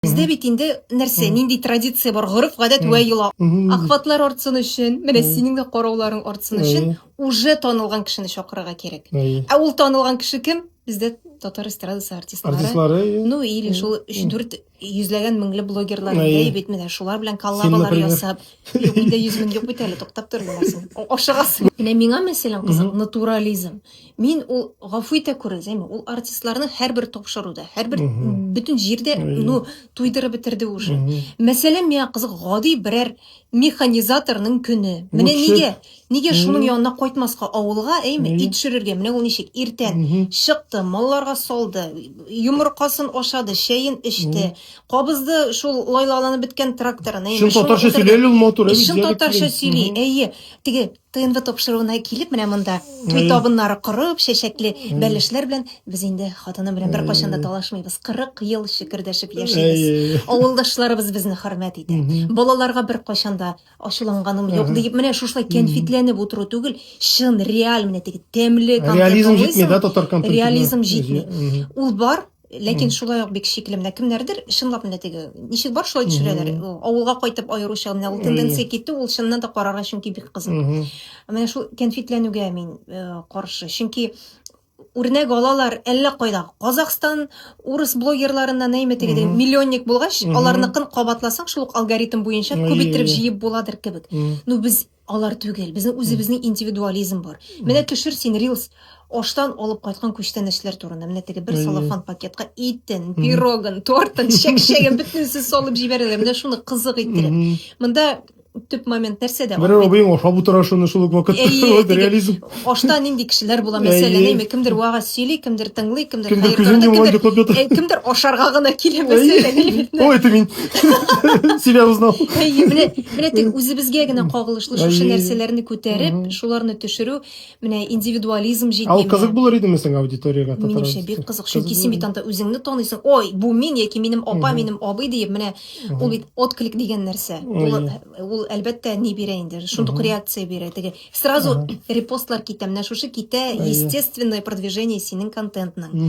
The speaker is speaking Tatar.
Бездә бит инде нәрсә, нинди традиция бар, гореф, гадәт вә йола. Ахватлар артсын өчен, менә синең дә карауларың артсын өчен уже танылган кешене чакырырга кирәк. Ә ул танылган кеше кем? Бездә татар эстрадасы артистлары. Артистлары. Ну или шул 3-4 йөзләгән меңле блогерлар инде бит менә шулар белән коллабалар ясап. Юк, инде 100 мең юк бит әле, туктап тор беләсең. Ашыгасың. Менә миңа мәсәлән кызык натурализм. Мин ул гафу итә күренсәме, ул артистларны һәрбер тапшыруда, һәрбер бөтен җирдә ну туйдырып бетерде уже. Мәсәлән, миңа кызык гади берәр механизаторның көне. Менә нигә? Нигә шуның янына кайтмаска авылга, әйме, ит төшерергә? Менә ул ничек иртән чыкты, малларга салды, йомыркасын ашады, чәен эчте, кабызды шул лайлаланып беткән тракторын. Чын татарча сөйләле ул матур. Чын татарча сөйли. Әйе, теге ТНВ тапшыруына килеп, менә монда туй табыннары корып, чәчәкле бәлешләр белән без инде хатыным белән беркайчан да талашмыйбыз. 40 ел шөкердәшеп яшибез. Авылдашларыбыз безне хөрмәт итә. Балаларга беркайчан да ачуланганым юк дип, менә шушылай кәнфитләнеп утыру түгел, чын, реаль менә теге тәмле контент. Реализм җитми, да, татар контентына? Реализм җитми. Ул бар, Ләкин mm. шулай ук бик шикле менә кемнәрдер чынлап менә теге ничек бар шулай төшерәләр. Mm -hmm. Авылга кайтып аеруча менә ул тенденция китү ул чыннан да карарга чөнки бик кызык. Mm -hmm. Менә шул кәнфитләнүгә мин э, каршы. Чөнки үрнәк алалар әллә кайда. Казахстан урыс блогерларына нәйме теге mm -hmm. миллионник булгач, mm -hmm. аларныкын кабатласаң шул алгоритм буенча күп итеп җыеп буладыр кебек. Mm -hmm. Ну без Алар түгел. Безнең үзебезнең индивидуализм бар. Менә төшер син рилс аштан алып кайткан күчтәнәчләр турында. Менә теге бер салафан пакетка итен, пирогын, тортын, чәкчәген бөтенесе салып җибәрәләр. Менә шуны кызык иттереп. Монда төп момент нәрсәдә? Бер абыең ашап утыра шуны шул ук вакытта. Реализм. ашта нинди кешеләр була мәсәлән әйме кемдер вага сөйли кемдер тыңлый кемдер кемдер күзен йомган йоклап ята э, кемдер ашарга гына килә мәсәлән о это мин себя узнал әйе менә менә тик үзебезгә генә кагылышлы шушы нәрсәләрне күтәреп шуларны төшерү менә индивидуализм җитми ал кызык булыр идеме соң аудиториягә минемчә бик кызык чөнки син бит анда үзеңне таныйсың ой бу мин яки минем апа минем абый диеп менә ул бит отклик дигән нәрсә ул әлбәттә ни бирә инде шундук реакция бирә теге Сразу репостлар китә, менә шушы китә, естественное продвижение синең контентның.